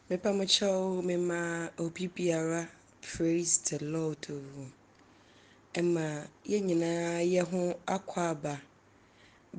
Mepa mo kyɛw mema obi biara praise the Lord o. Ɛma yɛn nyinaa yɛ ho akwaaba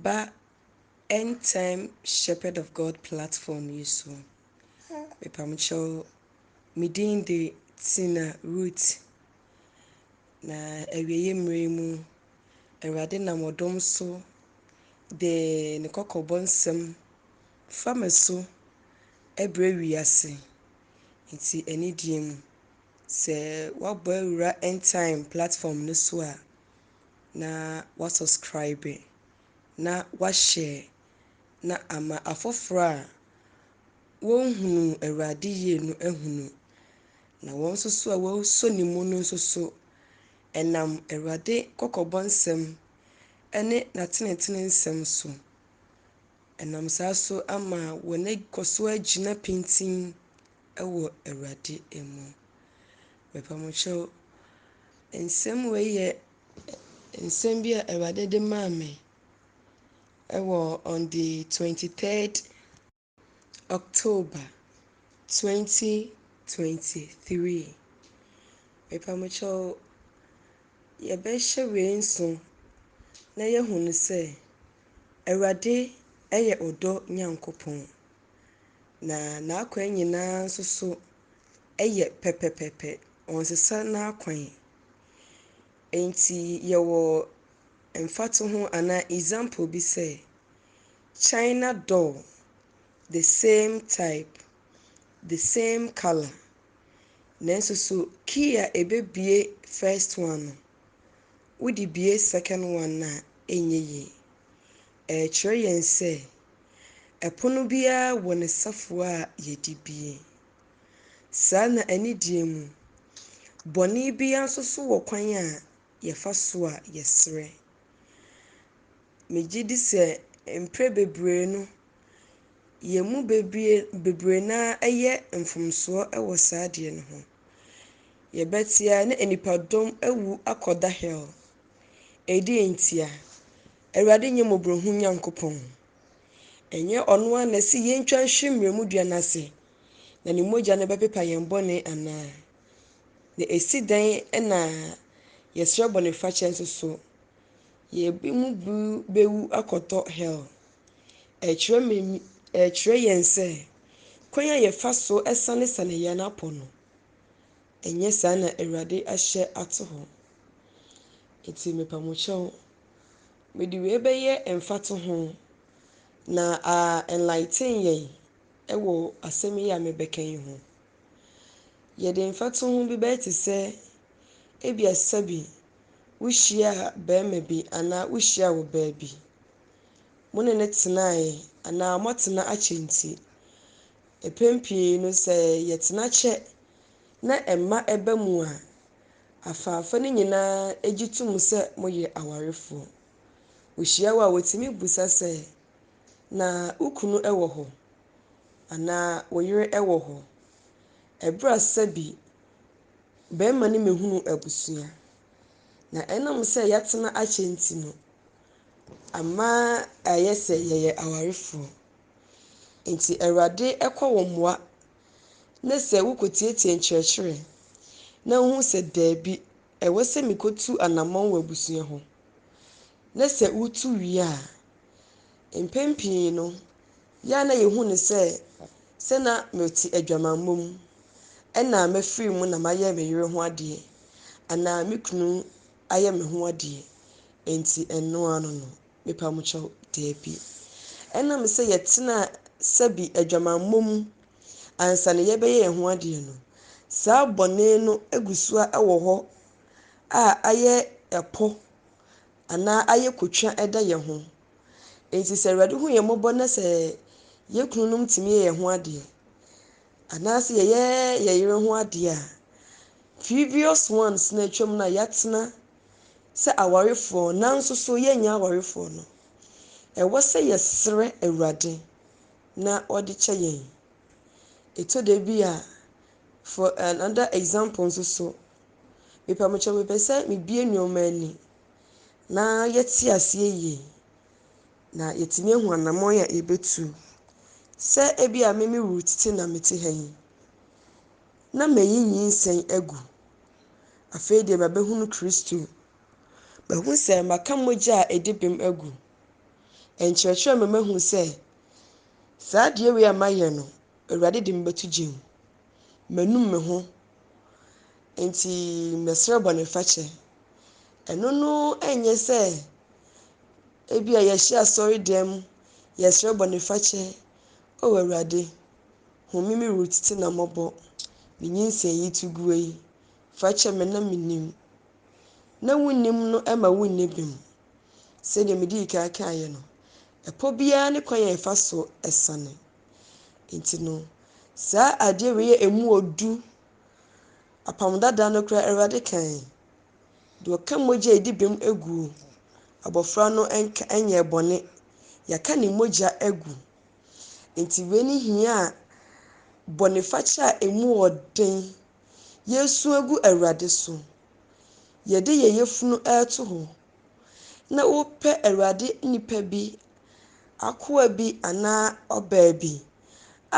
ba End Time Shepherd of God platform yi so. Mepa mo kyɛw me din de Tina Ruth. Na awieeɛ mmerɛ mu, Awurade nam ɔdom so de ne kɔkɔbɔ nsɛm Fa me so brɛ wiase. Nti anidie mu, sɛ woabɔ awura Endtime platform no so a, na woasɔskraibe, na woahyɛ, na ama afoforɔ a wɔnhunuu Awurade yie no ahunu, na wɔn nso so a wɔasɔ ne mu no nso so, ɛnam Awurade kɔkɔbɔ nsɛm ne n'atenetene nsɛm so, Ɛnam saa so ama wɔakɔ so agyina pintinn wɔ Awurade mu. Mepa mo kyɛw, nsɛm wei yɛ nsɛm bi a Awurade de maa me wɔ on the 23rd October 2023. Mepa mo kyɛw, yɛbɛhyɛ wei nso na yɛahunu sɛ Awurade yɛ ɔdɔ Nyankopɔn, na n'akwan nyinaa nso so yɛ pɛpɛpɛpɛ, ɔnsesa n'akwan. Enti yɛwɔ mfatoho anaa example bi sɛ, China doll, the same type, the same colour, nanso so key a ɛbɛbue first one no, Wode bue second one no a ɛnyɛ yie. Ɛrekyerɛ yɛn sɛ ɛpono biara wɔ ne safoa a yɛde bue. Saa na anidie mu, bɔne biara nso so wɔ kwan a yɛfa so a yɛsrɛ. Megye di sɛ mprɛ bebree no, yɛn mu bebie bebree no ara yɛ mfomsoɔ wɔ saa adeɛ no ho. Yɛbɛtea na nnipadɔm awu akɔda hell. Ɛdeɛn ntia? Awurade nyɛ mmɔborɔhunu Nyankopɔn? Ɛnyɛ ɔno ara na ɔse yɛntwa nhwe mmerɛmu dua no ase na ne mogya no bɛpepa yɛn bɔne anaa? Na ɛsi dɛn na yɛsrɛ bɔnefakyɛ nso so? Yɛn mu bi bɛwu akɔtɔ hell. Ɛkyerɛ me, ɛkyerɛ yɛn sɛ kwan a yɛfa so sanesane yɛn apɔ no, ɛnyɛ saa na Awurade ahyɛ ato hɔ. Enti mepa mo kyɛw, mede wei bɛyɛ mfatoho na a enlighten yɛn wɔ asɛm yi a mebɛka yi ho. Yɛde mfatoho bi bɛyɛ te sɛ ebia sɛbi wohyia bɛrima bi anaa wohyia ɔbaa bi. mo ne no tenae anaa moatena akyɛ nti. Mpɛn pii no sɛ yɛtena kyɛ na mma ba mu a, afaafa no nyinaa gye tom sɛ moyɛ awarefoɔ. Wohyia wo a wɔtumi bisa sɛ, Na wo kunu wɔ hɔ? Anaa wo yere wɔ hɔ? Ɛberɛ a sɛbi barima no mmɛhunuu abusua. Na ɛnam sɛ yɛatena akyɛ nti no, Ama ayɛ sɛ yɛyɛ awarefoɔ. Enti Awurade kɔ wo mmoa ne sɛ wokɔtiatia nkyerɛkyerɛ na wohu sɛ daabi, ɛwɔ sɛ mekɔtu anammɔn wɔ abusua ho. Ne sɛ wotu wie a, mpɛn pii no, yɛ a na yɛhu no sɛ sɛ na mete adwamammɔ mu, ɛnna mafiri mu na mayɛ me yere ho adeɛ anaa me kunu ayɛ me ho adeɛ enti ɛno ano no? Mepa mo kyɛw, daabi. Ɛnam sɛ yɛtenaa sɛbi adwamammɔ mu ansa na yɛbɛyɛ yɛn ho adeɛ no, saa bɔne no agu so ara wɔ hɔ a ayɛ ɛpɔ anaa ayɛ kotwa da yɛn ho. Enti sɛ Awurade hu yɛn mmɔbɔ na sɛ yɛn kununom tumi yɛ yɛn ho adeɛ anaasɛ yɛyɛ yɛn yere ho adeɛ a, Previous ones no a atwam no a yɛatena sɛ awarefoɔ nanso so yɛnyɛ awarefoɔ no, ɛwɔ sɛ yɛsrɛ Awurade na ɔde kyɛ yɛn. Ɛtɔ da bi a, for another example nso so, mepamokyɛw mepɛ sɛ mebue nneɛma ani na yɛte aseɛ yie na yɛtumi ahu anamɔn a yɛbɛtu. Sɛ ebi a me me route te na mete ha yi, Na mayi nyinsɛn agu. Afei deɛ mabɛhunu Kristo. Mahu sɛ maka mogya a ɛdi bem agu. Ɛnkyerɛkyerɛ me mahu sɛ saa adeɛ wei a mayɛ no, Awurade de me bɛto gya mu. Manum me ho, enti mɛsrɛ bɔnefakyɛ. Ɛno no ɛnyɛ sɛ ebia yɛhyɛ asɔre dan mu, yɛsrɛ bɔnefakyɛ, O Awurade, Home me Ruth te na mɔbɔ me nyinsɛn yi to gu ei fa kyɛ me na me nim na wo nim no ɛma wo nni bem sɛdeɛ me dii kan kaeɛ no ɛpɔ biara ne kwan a ɛfa so ɛsane nti no saa adeɛ wei yɛ emu odu apam dada no koraa awurade kan deɛ ɔka mogya ɛdi bem aguo abɔfra no ɛnka ɛnyɛ bɔne yɛaka ne mogya agu Enti wei ne hia a bɔnefakyɛ a emu wɔ den, yɛresu agu Awurade so, yɛde yɛn yafunu reto hɔ, na wopɛ Awurade nipa bi, akoa bi anaa ɔbaa bi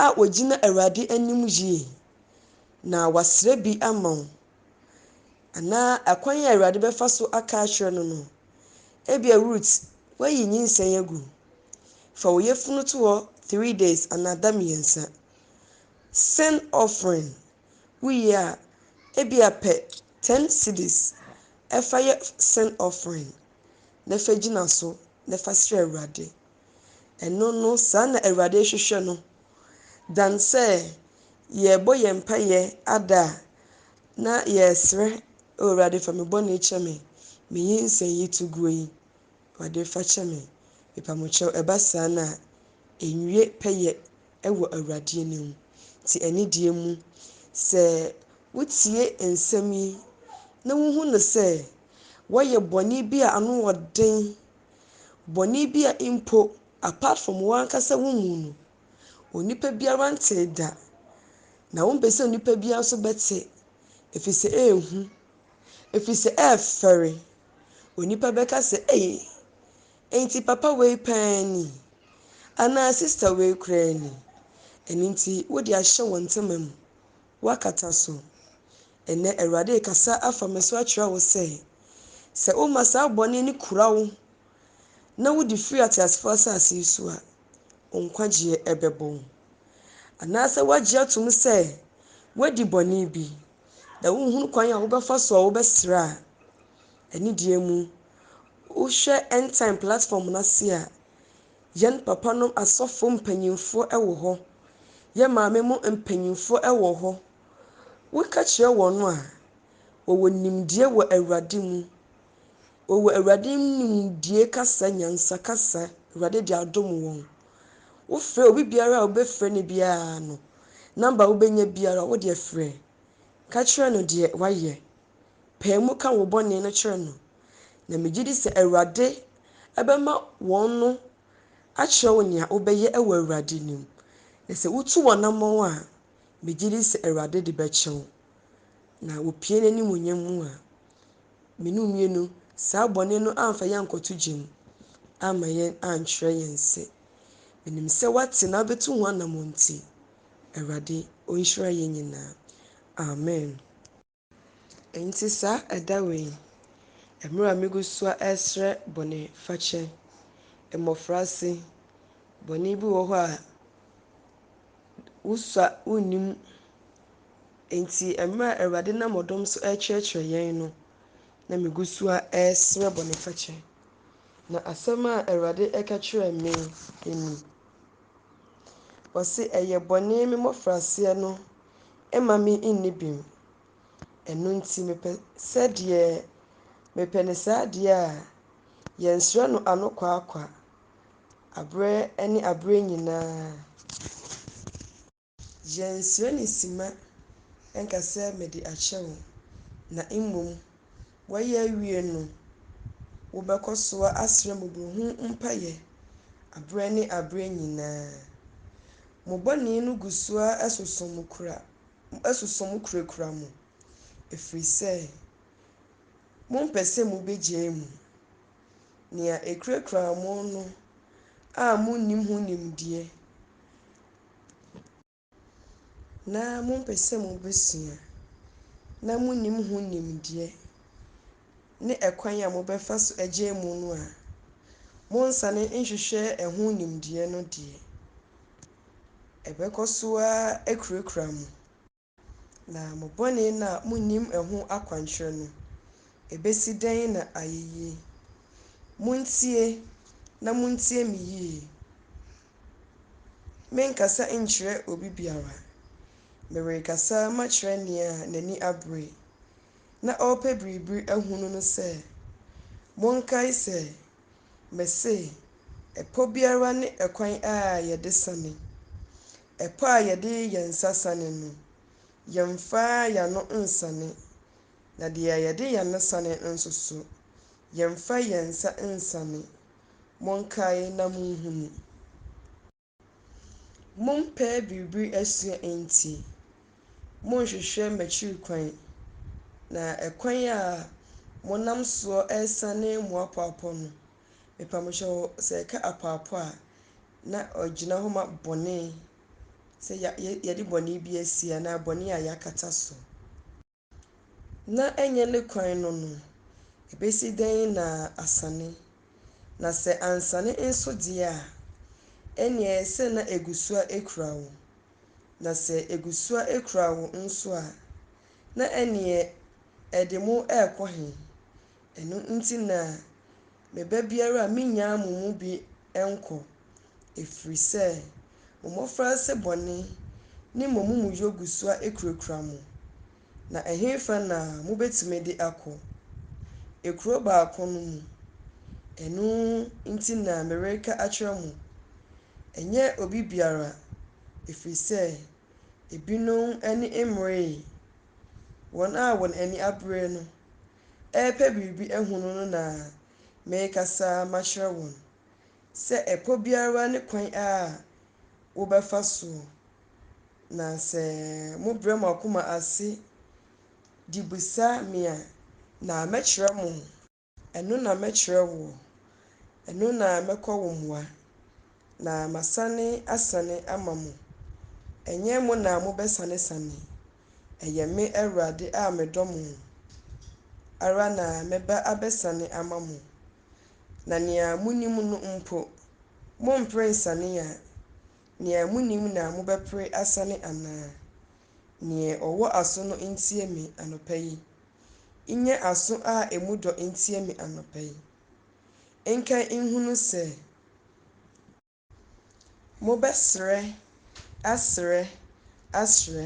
a ogyina Awurade anim yie, na wasrɛ bi ama wo, anaa akwan a Awurade bɛfa so aka akyerɛ no no. Ebia Rut, woayi nyinsɛn agu. Fa wo yafunu to hɔ three days anaa da mmiɛnsa. Sin offering, wowie a, ebia pɛ ten cedis fa yɛ sin offering na fa gyina so na fa srɛ Awurade Ɛno no, saa na Awurade hwehwɛ no, dan sɛ yɛrebɔ yɛn mpaeɛ ada a, na yɛresrɛ, O Awurade, fa me bɔne kyɛ me, me nyinsɛn yi to guo yi, Awurade, fa kyɛ me, mepamokyɛw. Ɛba saa no a, ɛnwie pɛyɛ wɔ Awurade anim. Te anidie mu sɛ wotie nsɛm yi na wohu no sɛ woayɛ bɔne bi a ano wɔ den, Bɔne bi a mpo apart from wo ankasa wo mu no, onipa biara ntee da, na wompɛ sɛ onipa biara nso bɛte, ɛfiri sɛ ɛyɛ hu, ɛfiri sɛ ɛyɛ fɛre. Onipa bɛka sɛ, Ei, enti papa wei paa ni? Anaa sista wei koraa ni? Ɛno nti wode ahyɛ wo ntoma mu, woakata so. Ɛnnɛ Awurade rekasa afa me so akyerɛ wo sɛ, sɛ woma saa bɔne no kura wo na wode firi ateasefoɔ asase yi so a, wo nkwagyeɛ bɛbɔ wo. Anaasɛ woagye atom sɛ woadi bɔne bi na wonhunu kwan a wobɛfa so a wobɛsrɛ a, anidie mu, wohwɛ Endtime platform no ase a, yɛn papanom asɔfo mpanyimfoɔ wɔ hɔ, yɛn maame mu mpanyimfoɔ wɔ hɔ, Woka kyerɛ wɔn a, wɔwɔ nimdeɛ wɔ Awurade mu, wɔwɔ Awurade mu nimdie kasa, nyansa kasa, Awurade de adom wɔn. Wofrɛ obi biara a wobɛfrɛ no biara no, number a wobɛnya biara wo deɛ frɛ, ka kyerɛ no deɛ wayɛ, pae mu ka wo bɔne no kyerɛ no, na megye di sɛ Awurade bɛma wɔn no akyerɛ wo nea wobɛyɛ wɔ Awurade nim. Na sɛ wotu w'anammɔn a, Megye di sɛ Awurade de bɛkyɛ wo, na wopue n'animuonyam mu a, me ne wo mmienu, saa bɔne no amfa yɛn ankɔto gya mu amma yɛn ankyerɛ yɛn se, Menim sɛ woate na wobɛtu ho anammɔn nti, Awurade ɔnhyira yɛn nyinaa. Amen. Enti saa ɛda wei, mmerɛ a megu so ɛresrɛ bɔne fakyɛ, mmɔfrase, bɔne bi wɔ hɔ a wosua wonnim, enti mmerɛ a Awurade nam ɔdom so ɛrekyerɛkyerɛ yɛn no, na megu so ɛresrɛ bɔne fakyɛ. Na asɛm a Awurade ɛka kyerɛɛ me ni, Ɔse ɛyɛ bɔne me mmɔfraseɛ no mma me nni bem. Ɛno nti mepɛ sɛ deɛ mepɛ no saa deɛ a yɛnsrɛ no anokwaakwa aberɛ ne aberɛ nyinaa. Yɛnsrɛ ne simma nka sɛ mede akyɛ wo, na mmom woayɛ awie no, wobɛkɔ so asrɛ mmɔborɔhunu mpaeɛ aberɛ ne aberɛ nyinaa. Mo bɔne no gu so ara soso mo kura, soso mo kurakura mo, ɛfiri sɛ mompɛ sɛ mobɛgyae mu. Nea ɛkurakuraa mo no a monnim ho nimdeɛ. na mompɛ sɛ mobɛsua, na monnim ho nimdeɛ ne ɛkwan a mobɛfa so agyae mu no a, monsane nhwehwɛ ɛho nimdeɛ no deɛ, ɛbɛkɔ so ara akurakura mo. Na mo bɔne no a munnim ɛho akwankyerɛ no, ebesi dɛn na ayɛ yie? Muntie, na muntie me yie. Merenkasa nkyerɛ obi biara. Merekasa makyerɛ nea n'ani abere, na ɔrepɛ biribi ahunu no sɛ, Monkae sɛ, mese, ɛpɔ biara ne ɛkwan a yɛde sane. Ɛpɔ a yɛde yɛn nsa sane no, yɛmfa yɛn ano nsane, na deɛ yɛde yɛn ano sane no nso so, yɛmfa yɛn nsa nsane. Monkae na monhunu. Mompɛ biribi asua enti, monhwehwɛ m'akyiri kwan, na ɛkwan a monam soɔ resane moapɔapɔ no, Mepa mo hyɛ hɔ sɛ ɛka apoapoa a, na ɔgyina hɔ ma bɔne, sɛ ya yɛ yɛde bɔne bi asie anaa bɔne a yɛakata so. Na ɛnyɛ ne kwan no no, ɛbɛsi dɛn na asane? Na sɛ ansane nso deɛ a, ɛnneɛ ɛyɛ sɛ na ɛgu so a ɛkura wo. Na sɛ ɛgu so a ɛkura wo nso a, na ɛnneɛ ɛde mo rekɔ he? Ɛno nti na me ba biara a mennyaa mo mu bi nkɔ, ɛfiri sɛ mo mmɔfraase bɔne ne mo amumuyɔ gu so ara kurakura mo. Na ɛhefa na mobɛtumi de akɔ? Ekuro baako no mu. Ɛno nti na mereka akyerɛ mo, ɛnyɛ obi biara, ɛfiri sɛ ebinom ani mmeree wɔn a wɔn ani abere no. repɛ biribi ahunu no na merekasa makyerɛ wɔn sɛ ɛpɔ biara ne kwan a wobɛfa so, na sɛ mobrɛ mo akoma ase de bisa me a, na mɛkyerɛ mo. Ɛno na mɛkyerɛ woɔ, ɛno na mɛkɔ wo mmoa, Na masane asane ama mo, ɛnyɛ mo na mobɛsanesane, ɛyɛ me Awurade a medɔ mo ara na mɛba abɛsane ama mo. Na nea monim no mpo, mompere nsane a, nea monim na mobɛpere asane anaa? Nea ɔwɔ aso no ntie me anɔpa yi, nyɛ aso a emu dɔ ntie me anɔpa yi. nka nhunu sɛ mobɛsrɛ asrɛ asrɛ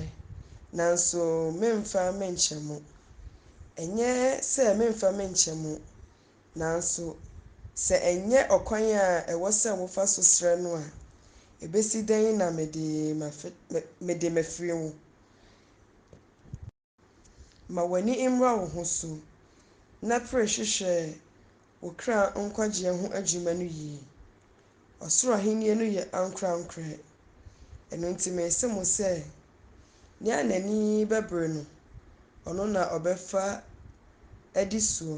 nanso memfa menkyɛ mo. Ɛnyɛ sɛ memfa menkyɛ mo, nanso sɛ ɛnyɛ ɔkwan a ɛwɔ sɛ wofa so srɛ no a, ebesi dɛn na mede mede mafiri wo? Ma w'ani mmra wo ho so, na pere hwehwɛ wo kra nkwagyeɛ ho adwuma no yie. Ɔsoro Ahennie no yɛ ankorɛankorɛ. Ɛno nti mese mo sɛ, nea n'ani bɛbere no, ɔno na ɔbɛfa adi soɔ,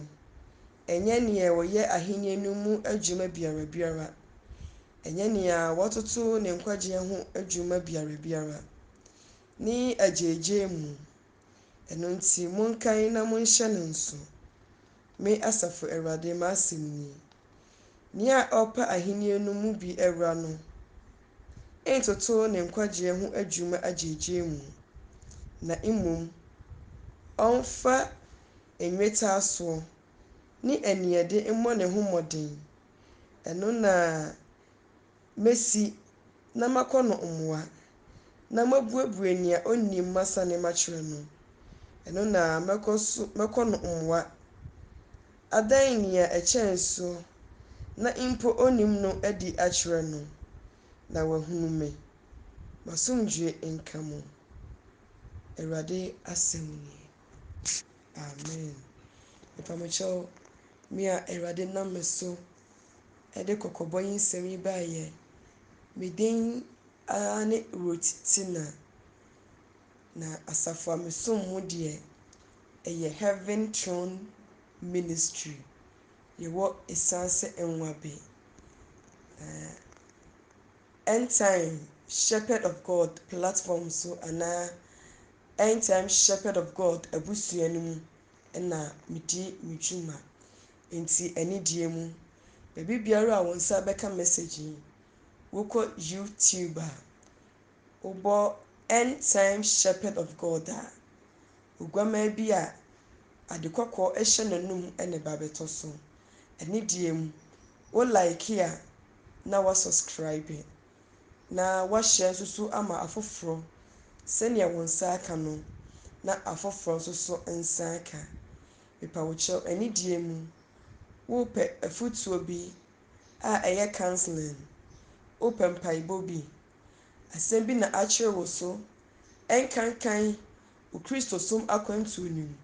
ɛnyɛ nea ɔyɛ Ahennie no mu adwuma biara biara, ɛnyɛ nea watoto ne nkwagyeɛ ho adwuma biara biara, ne agyaagyaa mu. Ɛno nti, monkan na monhyɛ no nso. Me Asafo Awurade m'asɛm ni. Nea ɔrepɛ ahenni no mu bi awura no ntoto ne nkwagyeɛ ho adwuma agyaagyaa mu, na mmom ɔmfa nnwetaasoɔ ne aniɛde mmɔ ne ho mmɔden, ɛno na Mesi na makɔ no mmoa, na mabuebue nea onnim masane makyerɛ no, ɛno na mɛkɔ so mɛkɔ no mmoa. Adan nea ɛkyɛn so na mpo onnim no adi akyerɛ no, na wahunu me. M'asomdwoe nka mo. Awurade asɛm nie. Amen. Mepa mo kyɛw, me a Awurade nam me so. ɛde kɔkɔbɔ yi nsɛm yi baeɛ, Me din ara ne Ruth Tina, na asafo a mesom mu deɛ, ɛyɛ Heaven Throne Ministry. Yɛwɔ Esaase Nwabe. Na End Time Shepherd of God platform so anaa End Time Shepherd of God abusua no mu na medi me dwuma. Enti anigyeɛ mu, baabi biara a wo nsa bɛka message yi, wokɔ YouTube a, wobɔ End Time Shepherd of God a, oguammaa bi a ade kɔkɔɔ hyɛ n'anom na ɛba bɛtɔ so. Anigyeɛ mu, wo like a na wa subscribe na wa share nso so ama afoforɔ sɛdeɛ wo nsa aka no na afoforɔ nso so nsa aka. Mepa wo kyɛw anidie mu. Worepɛ afutuo bi a ɛyɛ counseling. Worepɛ mpaebɔ bi. Asɛm bi na akyere wo so ɛnkankan wo Kristosom akwantuo no mu.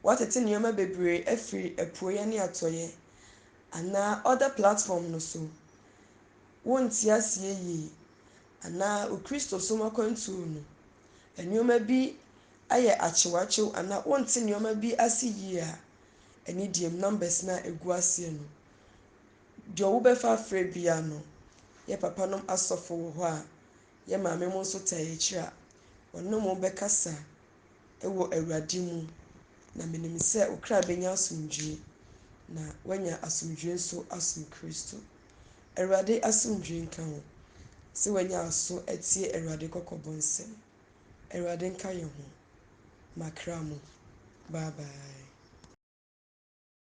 Woatete nneɛma bebree afiri apueɛ ne atɔeɛ anaa other platform no so. Wonte aseɛ yie anaa wo Kristosom akwantuo no nneɛma bi ayɛ akyewakyew anaa wonte nneɛma bi ase yie a, ɛne deɛm numbers no a ɛgu aseɛ no. Deɛ wobɛfa afrɛ biara no, yɛ papa nom asɔfo wɔ hɔ a, yɛ maame mo nso taa yɛ akyire a, wɔne mo bɛkasa wɔ Awurade mu. Na menim sɛ wo kra bɛnya asomdwoeɛ, na woanya asomdwoeɛ nso asom Kristo. Awurade asomdwoeɛ nka wo sɛ woanya aso atie Awurade kɔkɔbɔ nsɛm. Awurade nka yɛn ho. M'akra mu. Bye bye.